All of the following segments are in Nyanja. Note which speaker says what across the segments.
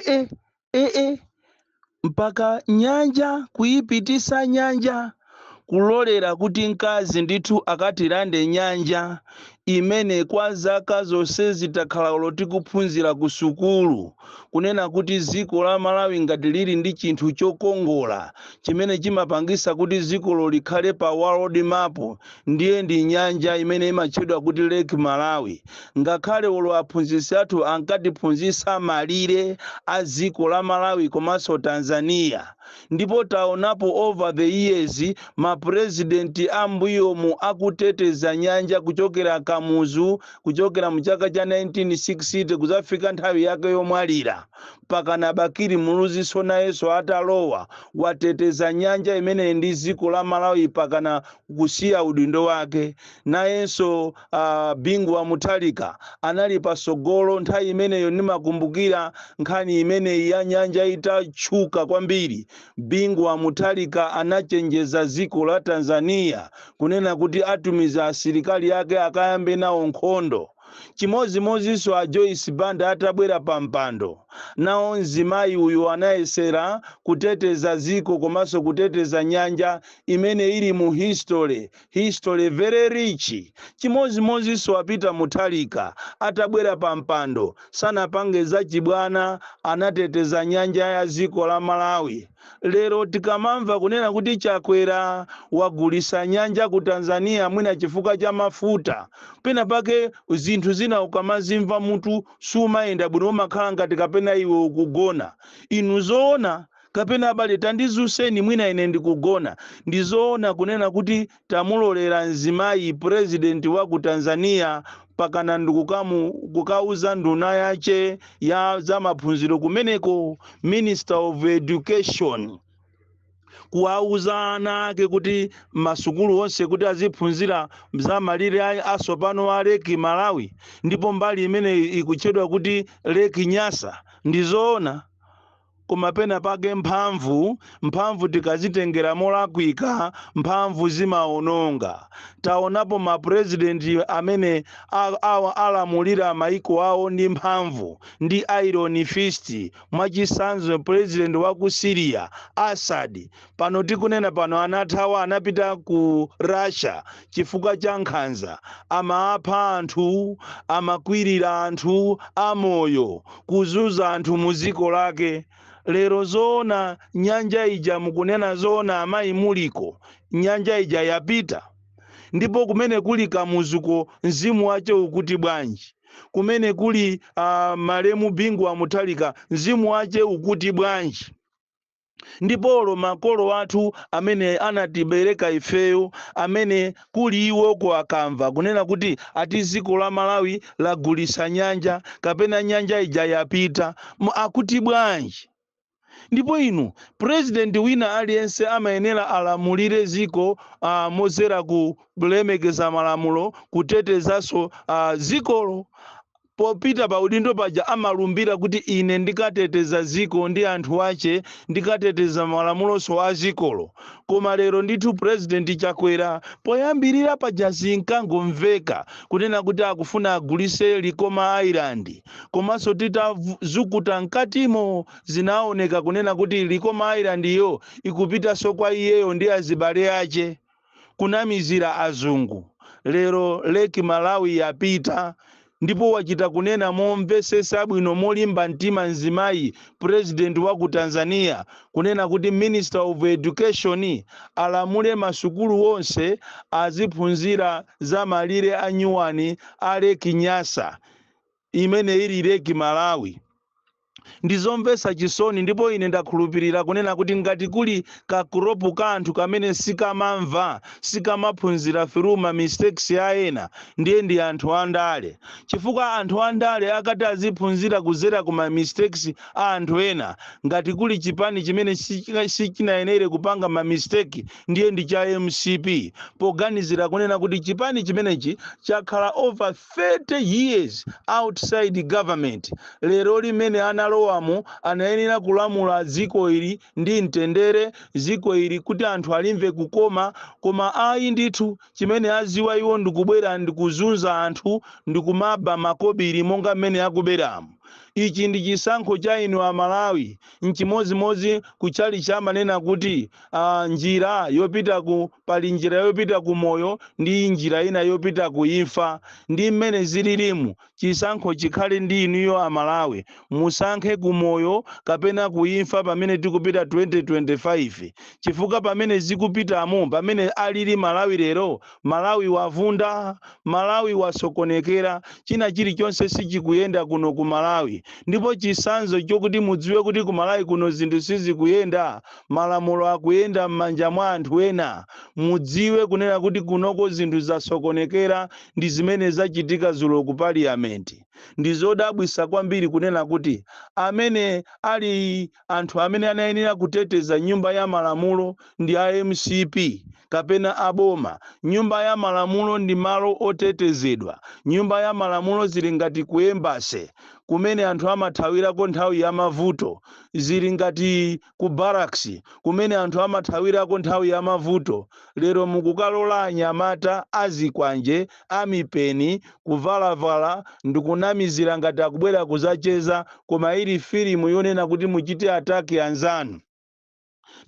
Speaker 1: ee ee mpaka nyanja kuyipitisa nyanja kulolera kuti mkazi ndithu akatilande nyanja imene kwa zaka zonsezi takhala tikuphunzira ku sukulu kunena kuti dziko la malawi ngati lili ndi chinthu chokongola chimene chimapangisa kuti dzikolo likhale pa world map Ndiye ndi nyanja imene imatchedwa kuti Lake Malawi. Ngakhale olo aphunzitsi athu ankatiphunzitsa malire a dziko la Malawi komanso Tanzania. Ndipo taonapo over the years ma president a m'mbuyomu akuteteza nyanja kuchokera Kamuzu, kuchokera mu chaka cha 1960 kudzafika nthawi yake yomwalira, mpakana Bakili Muluziso nayenso atalowa, wateteza nyanja imeneyi ndi dziko la Malawi mpakana kusiya udindo wake. Nayenso uh, Bingu wa Mutharika anali pasogolo nthawi imeneyo. Ndimakumbukira nkhani imeneyi ya nyanja itatchuka kwambiri, Bingu wa Mutharika anachenjeza dziko la Tanzania kunena kuti atumiza asilikali yake akayambe nawo nkhondo. Chimodzimodzinso a Joyce Banda atabwera pa mpando, nawo mzimayi uyu anayesera kuteteza dziko komanso kuteteza nyanja imene ili mu history history very rich chimozimozinso a Peter Mutharika atabwera pa mpando sanapange za chibwana anateteza nyanja ya dziko la malawi lero tikamamva kunena kuti chakwera wagulisa nyanja ku tanzania mwina chifukwa cha mafuta pena pake zinthu zina ukamazimva mutu sumayenda bwino umakhala ngati kapena iwe ukugona inu zoona Kapena, abale, tandizuseni, mwina ine ndikugona. Ndi zoona kunena kuti tamulolera mzimayi president wa ku Tanzania mpakana ndikukauza nduna yache ya za maphunziro kumeneko, Minister of Education, kuwauza ana ake kuti masukulu onse kuti aziphunzira za malire a- asopano a Lake Malawi, ndipo mbali imene ikutchedwa kuti Lake Nyasa. Ndi zoona. Koma pena pake mphamvu, mphamvu tikadzitengera molakwika, mphamvu zimaononga. Taonapo ma president amene a, a, alamulira maiko awo ndi mphamvu, ndi iron fist, mwachisanzo president wa ku Syria, Assad, pano tikunena pano anathawa anapita ku russia chifukwa cha nkhanza amapha anthu amakwirira anthu amoyo kuzunza anthu mu dziko lake lero zoona nyanja ija mukunena zoona amayi muliko nyanja ija yapita ndipo kumene kuli kamuzuko mzimu wache ukuti bwanji kumene kuli uh, malemu bingu wa mutharika mzimu wache ukuti bwanji Ndipo olo makolo athu amene anatibereka ifeyo amene kuli iwoko akamva kunena kuti ati ziko la Malawi lagulisa nyanja kapena nyanja ija yapita akuti bwanji? Ndipo inu president wina aliyense amayenera alamulire ziko aa mozera kulemekeza malamulo kutetezaso aa zikolo aa. Popita pa udindo paja amalumbira kuti ine ndikateteza dziko ndi anthu ache ndikateteza malamulonso a dzikolo. Koma lero ndithu president Chakwera poyambirira paja zinkangomveka kunena kuti akufuna agulise Likoma Island komanso titazukuta mkatimo zinaoneka kunena kuti Likoma Island yo ikupitanso kwa iyeyo ndi azibale ache. kunamizira azungu lero Lake Malawi yapita ndipo wachita kunena momvesesa bwino molimba mtima mzimayi president wa ku Tanzania kunena kuti minister of education alamule masukulu wonse aziphunzira za malire a nyuwani a Lake Nyasa imene ili Lake Malawi. Ndizomvesa chisoni ndipo ine ndakhulupirira kunena kuti ngati kuli ka crop ka anthu kamene sikamamva, sikamaphunzira through ma mistakes a ena, ndiye ndi anthu a ndale. Chifukwa anthu a ndale akati aziphunzira kuzera ku ma mistakes a anthu ena, ngati kuli chipani chimene sichinayenere kupanga ma mistake ndiye ndi cha mcp, poganizira kunena kuti chipani chimenechi chakhala over 30 years outside government lero limene analowamo anayenera kulamula dziko ili ndi mtendere dziko ili kuti anthu alimve kukoma koma ayi ndithu chimene aziwa iwo ndikubwera ndikuzunza anthu ndikumaba makobiri monga mmene akuberamu ichi ndi chisankho cha inu amalawi N'chimodzimodzi ku tchalitchi amanena kuti, ah, njira yopita ku, pali njira yopita ku moyo ndi njira ina yopita ku imfa. Ndi mmene zililimu. Chisankho chikhale ndi inuyo a Malawi. Musankhe ku moyo kapena ku imfa pamene tikupita 2025. Chifukwa pamene zikupitamu, pamene alili Malawi lero, Malawi wavunda, Malawi wasokonekera, china chilichonse sichikuyenda kuno ku Malawi ndipo chisanzo chokuti mudziwe kuti ku Malawi kuno zinthu sizikuyenda, malamulo akuyenda mmanja mwa anthu ena, mudziwe kunena kuti kunoko zinthu zasokonekera ndi zimene zachitika zulo ku Parliament. Ndizodabwisa kwambiri kunena kuti amene ali. anthu amene anayenera kuteteza nyumba ya malamulo ndi a mcp kapena a boma? Nyumba ya malamulo ndi malo otetezedwa. Nyumba ya malamulo zili ngati ku embassy kumene anthu amathawirako nthawi ya mavuto. Zili ngati ku barracks kumene anthu amathawirako nthawi ya mavuto. Lero mukukalola anyamata azikwanje a mipeni, kuvalavala, ndikunamizira ngati akubwera kuzacheza koma ili filimu yonena kuti muchite attack anzanu.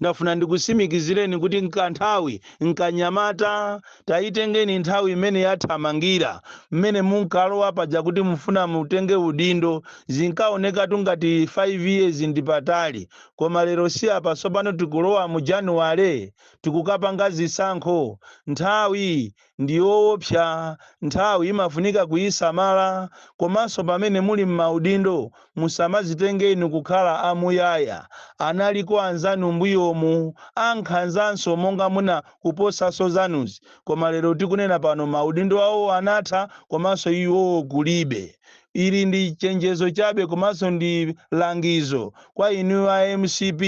Speaker 1: Ndafuna ndikusimikizireni kuti nkanthawi nkanyamata. Tayitengeni nthawi imene yathamangira, mmene munkalowa paja kuti mufuna mutenge udindo, zinkaonekatu ngati 5 years ndi patali koma lero si apa tsopano tikulowa mu January tikukapanga zisankho. Nthawi ndi yoopsa, nthawi imafunika kuisamala, komanso pamene muli m'maudindo musamazitenge inu kukhala a muyaya, analiko anzanu mbuyomu ankhanzanso monga muna kuposanso zanuzi koma lero tikunena pano maudindo awo anatha komanso iwowo kulibe. Ili ndi chenjezo chabe komanso ndi langizo kwa inu a mcp.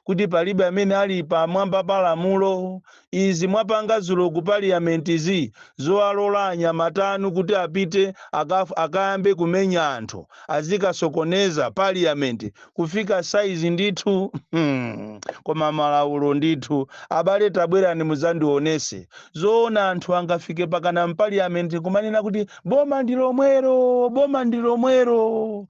Speaker 1: kuti palibe amene ali pa mwamba pa lamulo. Izi mwapanga zulo ku parliament zi zowalola anyamata anu kuti apite akayambe kumenya anthu azikasokoneza parliament kufika size ndithu. Koma malaulo ndithu abale tabwerani muzandionese zoona anthu angafike pakana mpaliament kumanena kuti boma ndilomwero boma ndilomwero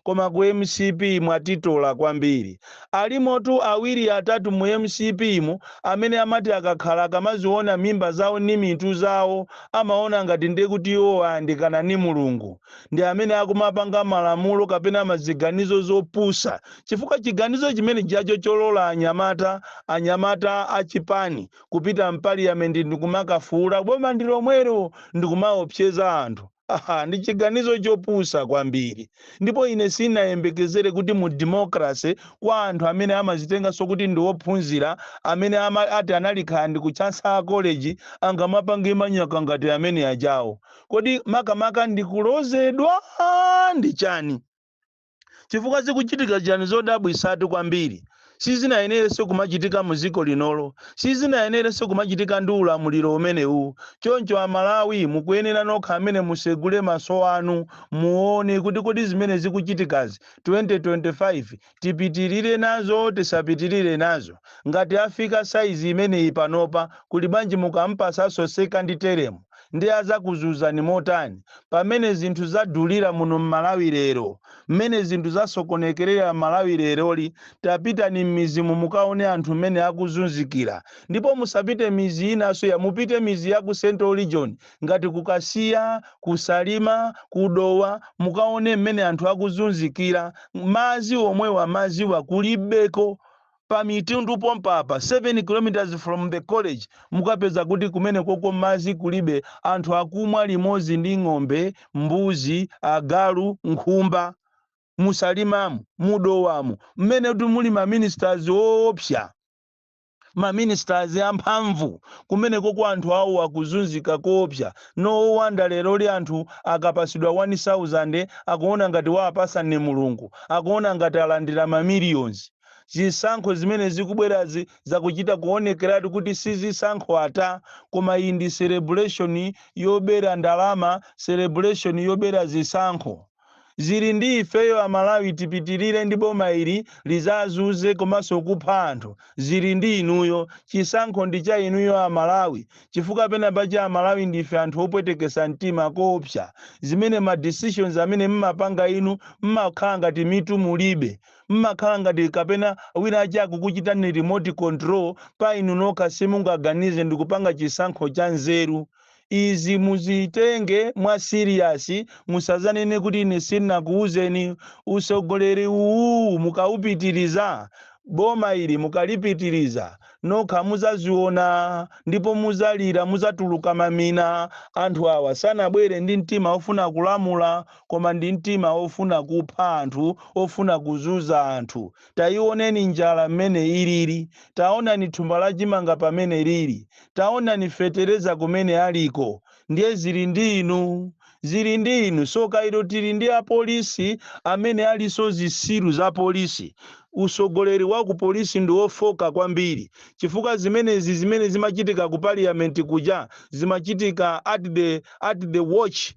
Speaker 1: Koma ku mcp mwatitola kwambiri. Alimotu awiri atatu mu mcp mu amene amati akakhala akamaziona mimba zawo ni mitu zawo amaona ngati nde kuti iwo ayandikana ni Mulungu. Ndi amene akumapanga malamulo kapena maziganizo zopusa chifukwa chiganizo chimene jacho cholola anyamata anyamata a chipani kupita m'paliyamenti ndikumakafuula boma ndilomwero ndikumaopseza anthu. Ndi chiganizo chopusa kwambiri. Ndipo ine sinayembekezere kuti mu democracy, kwa anthu amene amazitenganso kuti ndi ophunzira, amene ati anali kaya ndi ku Chancellor College, angamapange manyaka ngati amene ajawo. Kodi makamaka ndi kulozedwa? Ndi chani? Chifukwa zikuchitika chani zodabwisatu kwambiri sizinayenerenso kumachitika mu dziko lino-li sizinayenerenso kumachitika ndi ulamuliro umenewuu choncho a Malawi mukuyenera nokha amene musegule maso anu muone kuti kodi zimene zikuchitikazi 2025 tipitirire nazo tisapitirire nazo ngati afika size imeneyi panopa kuli bwanji mukampasanso second term nde azakuzuzani motani pamene zinthu zadulira muno mmalawi lero mmene zinthu zasokonekerera mmalawi leroli tapitani mmidzimu mukaone anthu mmene akuzunzikira ndipo musapite midzi inaso ya mupite midzi ya ku central region ngati ku kasiya ku salima ku dowa mukaone mmene anthu akuzunzikira madzi omwewa madziwa kulibeko pa Mitundu pompa apa, 7 km from the college, mukapeza kuti kumenekoko madzi kulibe, anthu akumwa limodzi ndi ng'ombe, mbuzi, agalu, nkhumba. Mu Salimamu, mu Dowamu, mmene kuti muli ma ministers oopsa, ma ministers a mphamvu, kumenekoko anthu awo akuzunzika koopsa. No wonder leroli anthu akapatsidwa 1,000 akuona ngati wawapatsa ndi Mulungu, akuona ngati alandira ma millions. Zisankho zimene zikubwerazi zakuchita kuonekeratu kuti si zisankho ata, koma iyi ndi celebration yobera ndalama, celebration yobera zisankho. Zili ndi ifeyo a Malawi tipitilire ndi boma ili lizazuze komanso kupha anthu, zili ndi inuyo. Chisankho ndi cha inuyo a Malawi, chifukwa penapake a Malawi ndife anthu opwetekesa mtima koopsa. Zimene ma decisions amene mmapanga inu mmakhala ngati mitu mulibe. Mmakhala ngati kapena winaake akukuchitani remote control pa inu nokha simungaganize ndikupanga chisankho cha nzeru. Izi muzitenge mwa serious musazanene kuti ine sinakuuzeni. Utsogoleri uwu mukaupitiriza, boma ili mukalipitiriza, nokha muzaziona ndipo muzalira muzatuluka mamina. Anthu awa sanabwere ndi mtima ofuna kulamula. koma ndi mtima ofuna kupha anthu, ofuna kuzuza anthu. Taioneni njala mmene ilili. Taonani thumba la chimanga pamene lili. Taonani fetereza kumene aliko. Ndiye zili ndi inu. Zili ndi inu. Tsoka ilo tili ndi a polisi amene alinso zitsiru za polisi. Utsogoleri wa ku polisi ndi ofooka kwambiri chifukwa zimenezi zimene zimachitika ku parliament kuja zimachitika at the at the watch.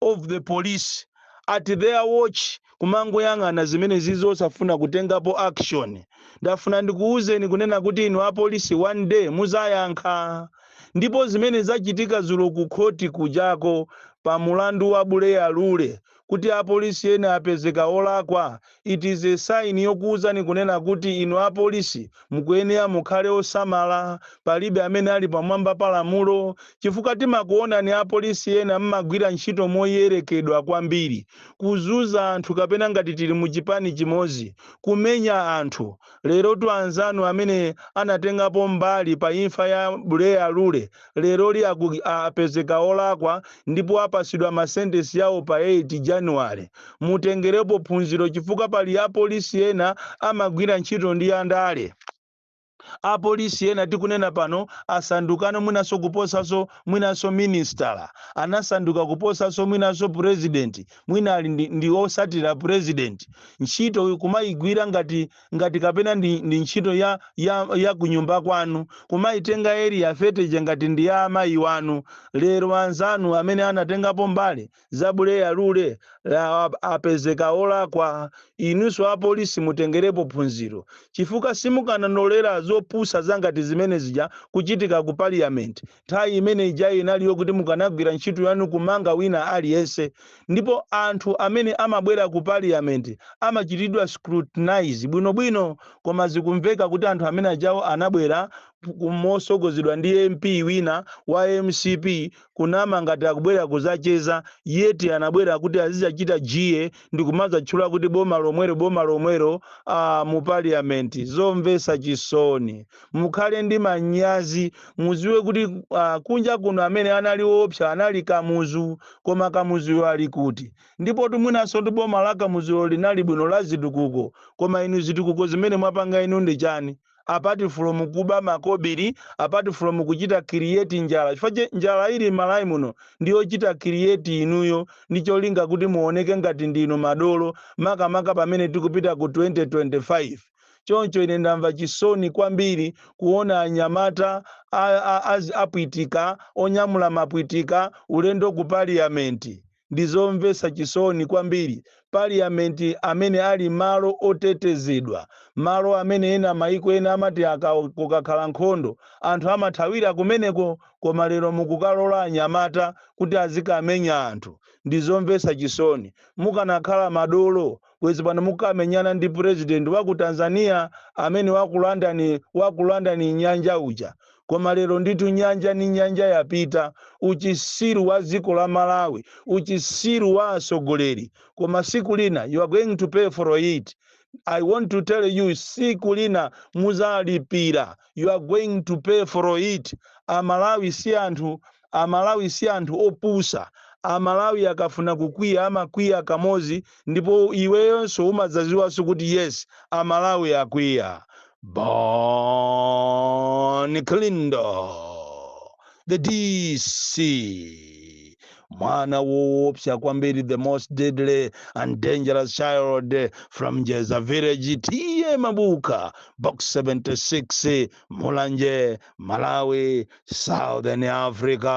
Speaker 1: of the police at their watch kumangoyang'ana zimenezizo osafuna kutengapo action ndafuna ndikuwuzeni kunena kuti inu apolisi one day muzayankha ndipo zimene zachitika zulo ku khoti kujako pa mulandu wa buleya lule kuti apolisi ena apezeka olakwa It is a sign yokuuzani kunena kuti inu apolisi mukuyenera mukhale osamala, palibe amene ali pamwamba pa lamulo, chifukwa timakuonani apolisi ena mmagwira ntchito moyerekedwa kwambiri, kuzuza anthu kapena ngati tili mu chipani chimodzi, kumenya anthu. Lerotu anzanu amene anatengapo mbali pa imfa ya Buleya Lule leroli a, apezeka olakwa ndipo apasidwa ma sentence awo pa 8 January. Mutengerepo phunziro chifukwa pali apolisi ena amagwira ntchito ndi andale. Apolisi ena tikunena pano asandukano mwinanso kuposanso mwinanso minisitala, anasanduka kuposanso mwinanso president, mwina ali ndi, ndi osatira president. Ntchito kumayigwira ngati ngati kapena ndi, ndi ntchito ya, ya, ya kunyumba kwanu, kumaitenga area 30-jayi ngati ndi ya amayi wanu, lero anzanu amene anatengapo mbali za Buleya Lule, apezeka olakwa. Inunso apolisi mutengerepo phunziro, chifukwa simukananolera zopusa zangati zimene zija kuchitika ku Parliament. Nthawi imene ijayi inali yokuti mukanagwira ntchito yanu kumanga wina aliyense. Ndipo anthu amene amabwera ku parliament amachitidwa scrutinize bwino bwino. Koma zikumveka kuti anthu amene ajawo anabwera mosogozedwa ndi MP wina wa MCP kunama ngati akubwera kuzacheza yet anabwera kuti azizachita jeer ndikumazatchula kuti boma lomwero boma lomwero aah mu parliament. Zomvesa chisoni. mukhale ndi manyazi muziwe kuti uh, kunja kuno amene anali woopsa anali kamuzu koma kamuzuyo ali kuti ndipotu mwinanso ndi boma la kamuzulo linali bwino la zitukuko koma inu zitukuko zimene mwapanga inu ndi chani apart from kuba makobiri apart from kuchita create njala chifukwa chake njala ili m'Malawi muno ndiyochita create inuyo ndi cholinga kuti muoneke ngati ndinu madolo makamaka pamene tikupita ku 2025 Choncho ine ndamva chisoni kwambiri kuona anyamata a, a, a, apwitika onyamula mapwitika ulendo ku paliyamenti. Ndi zomvetsa chisoni kwambiri. Paliyamenti amene ali malo otetezedwa, malo amene ena maiko ena amati aka, kukakhala nkhondo anthu amathawira kumeneko, koma lero mukukalola anyamata kuti azikamenya anthu. Ndi zomvetsa chisoni. Mukanakhala madolo Bwezi pano mukamenyana ndi president waku Tanzania amene wakulanda wakulandani nyanja uja koma lero ndithu nyanja ni nyanja yapita uchisiru wa ziko la Malawi uchisiru wa asogoleri koma siku lina you are going to pay for it I want to tell you siku lina muzalipira you are going to pay for it a Malawi si anthu Amalawi si anthu opusa. Amalawi akafuna kukwiya amakwiya kamozi ndipo iweyonso umadzaziwanso kuti yes amalawi akwiya. Bon Kalindo the DC mwana woopsa kwambiri the most deadly and dangerous child from Jeza village TA Mabuka box 76 mulanje malawi southern africa